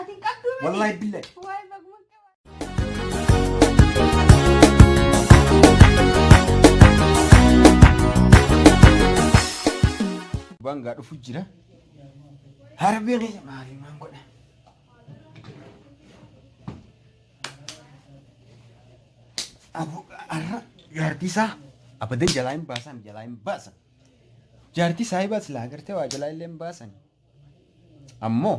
Ati hin qabduu miti. Wallahi billahi. Waay baguma. Bangaa dhufu jira. Harbee keessa maali maan godha? Abu arra jaartii isaa abadan jalaa hin baasan jalaa hin baasan. Jaartii isaa hibaas laa agartee waa jalaa illee hin baasan. Ammoo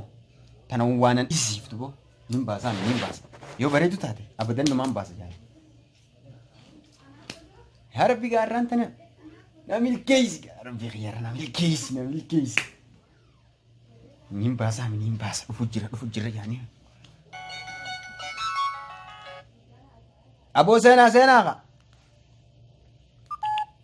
tana waanan dhisiiftu boo nin baasaa nin baasa. Yoo bareedu taate abadan numaan baasa jaala. Yaa rabbi gaarraan tana na milkeessi yaa rabbi kiyyaara na milkeessi na milkeessi. Nin baasaa nin baasa dhufu jira dhufu jira jaanii. Aboo seenaa seenaa kaa.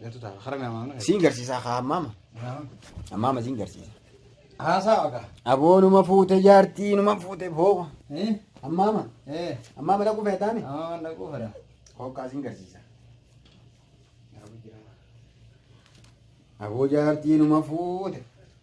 Galtu ta'a. Hara mi'a maamna. Siin garsiisaa haa ammaama. Ammaama siin garsiisa. Haasaa waqa. Aboo numa fuute jaartii numa fuute boo. Eh? Ammaama. Eh. Ammaama dhaquu feetaami. Amma waan dhaquu fedha. Hooqaa siin garsiisa. Aboo jaartii numa fuute.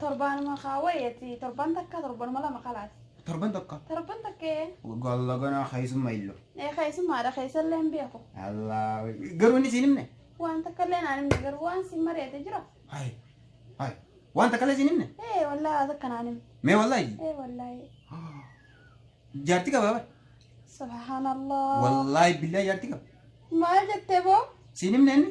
Torbaanuma kaa wayati torban takka torbanuma lama kalaati. Torban tokko. Torban takkee. Golla gonaa keessumma illo. Ee keessummaadha keessallee hin beeku. Allah garuu inni siin himne. Waan takka illee naan himne garuu waan siin mari'ate jira. Hai hai waan takka illee siin himne. Ee wallaahi waan takka naan himne. Mee wallaahi. Ee wallaahi. Jaarti qabaa bar. Subhaanallah. Wallaahi billaahi jaarti qaba. Maal jettee boo? Siin himne inni.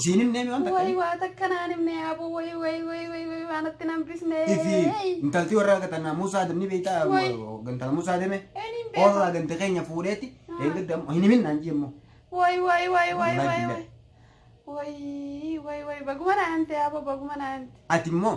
Isiin himnee mi waan takka Way waa takka naan himne aboo way way way way way waan itti nan bisne. Ifi intalti warra gatan Musa Adam ni beekta Way. gantala Musa Adame Eniin beeku. warra gante keenya fuudheeti Ah. eeggadda hin himin naan jee immoo Way way way way Wallahi way billahi. way. Way way way baguma naan himte aboo baguma naan himte. ati immoo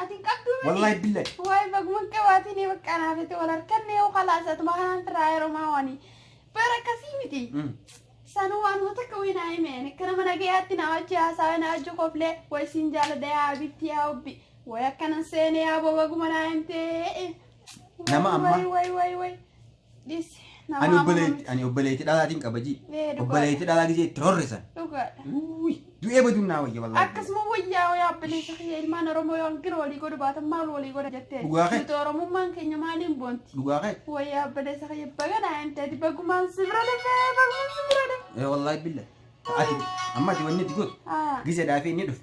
Ati hin qabduu miti. Wallahi billahi. Waay baguma qabaatiin ee bakka anaaf itti wal harkanne yoo kalaas atuma kanaan firaa yeroo maa waanii. Bara akkasii miti. Sanuu waanuma takka wayii naa hime ani akka nama nagayaatti naa wajji haasawee naa wajji koflee wayi siin jaalladha yaa abibti yaa obbi wayi akkanan seenee yaa bobaguma naa himtee. Nama amma- Wayi wayi wayi. Dhisi. Ani Nama obboleetti amanamti. ani obboleetti dhalaatiin qabajii. Ee, dhugaadha. Obboleetti dhalaa gisee itti rorrisan. Dhugaadha. Uuy, Du'ee baduun naa wayya wallaahi. Akkasuma wayyaa wayyaa abbileessa kiyya ilmaan Oromoo yoo hanqina walii godhu baatan maal walii godha jettee. Dhugaa kee. Nuti Oromummaan keenya maaliin boonti? Dhugaa kee. Wayyaa abbileessa kiyya baga naa hin ta'e bagumaan si bira dhufee bagumaan si bira dhufee. Ee wallaahi billa. Ati amma ati wanni itti gootu. Ah. Gise dhaafee inni dhufe.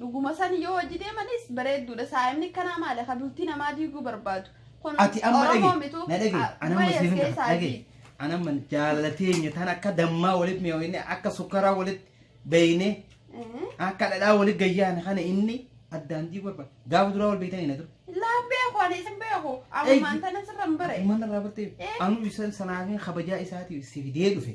Dhuguma sani yoo wajji deemanis bareedduudha. Saa'imni kanaa maali? Ka bultii namaa diiguu barbaadu. Kun Ati amma Oromoo dhage. mitu. Na dhage. Ana amma Dubayas siifin keessaa dhage. fi- Ana amma jaalala teenya tan akka dammaa walitti mi'ooyne akka sukkaraa walitti beeyne Mhm. akka dhadhaa walitti gayyaane kana inni addaan diiguu barbaada. Gaafa duraa wal beeytanii na dura. Laa beeku ani isin beeku. Ammaan tana sirra hin bare. Mana irraa bartee Eh. anu isan sanaafin kabajaa isaatiif si fidee dhufe.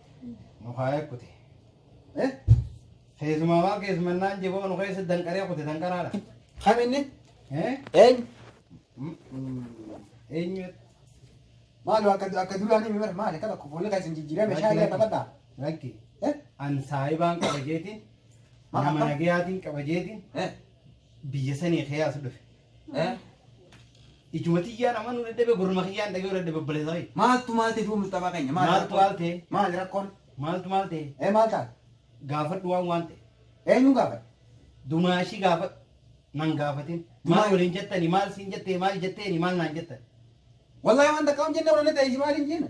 nu kaayee kute. Eh? Keessumaa waan keessumannaan jiboo nu keessa danqaree kute danqaraadha. Kam inni? Eh? Eenyu? Mm, mm, Eenyu? Maali akka akka dulaanii mimir maali akka tokko fuulli keessan jijjiirame shaayii Lakki, taphataa. Lakki. Eh? An saayibaan qaba jeetiin. Maal Nama akkam? nagayaatiin qaba jeetiin. Eh? Biyya sanii keessa dhufe. Eh? Ijuma tiyyaan amma nu dadhabe gurma kiyyaan dhagee dadhabe obboleessa kee. Maaltu maal ta'e duuba Mustafaa keenya? Maali Maaltu rakkoon? maal ta'e? Maali rakkoon? Maaltu maal ta'e? Ee maal taate? Gaafadhu waan waan ta'e. Eenyuun gaafate? Dumaashii gaafadhu. Nan gaafatin. Dumaa- Maal waliin jettani? Maal siin jettee? Maal jetteeni? Maal naan jettan? Wallahi waan takka hin jenne warra ta'e maal hin jenne?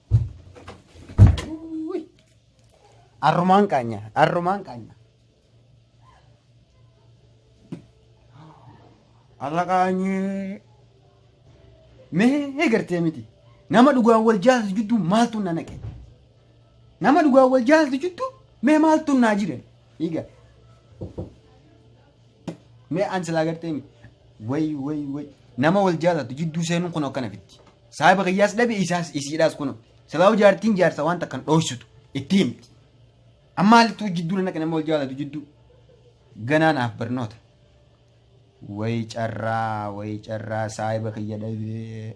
Arrumaan qaanya. Arrumaan qaanya. Alla qaanyee. Mee gartee miti. Nama dhugaan wal jaalatu jidduu maaltu na naqe? Nama dhugaan wal jaalatu jidduu mee maaltu naa jire? Dhiiga. Mee an silaa gartee mi? Way way way. Nama wal jaalatu jidduu seenuun kun akkana fitti. Saahiba kiyyaas dhabe isaas isiidhaas kun. Silaa'u jaartiin jaarsa waan takkan dhooysitu itti himti. Amma halittuu jidduu naqe nama wal jaalatu jidduu. Ganaa naaf barnoota. Way carraa way carraa saahiba kiyya dhabee.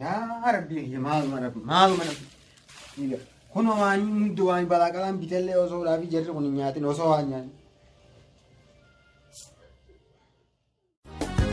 yaa rabbii kiyya maaluma rabbi maaluma rabbi dhiiga kun waan hundi waan balaa qalaan bitellee osoo dhaabii jarri kun hin nyaatin osoo waan nyaanne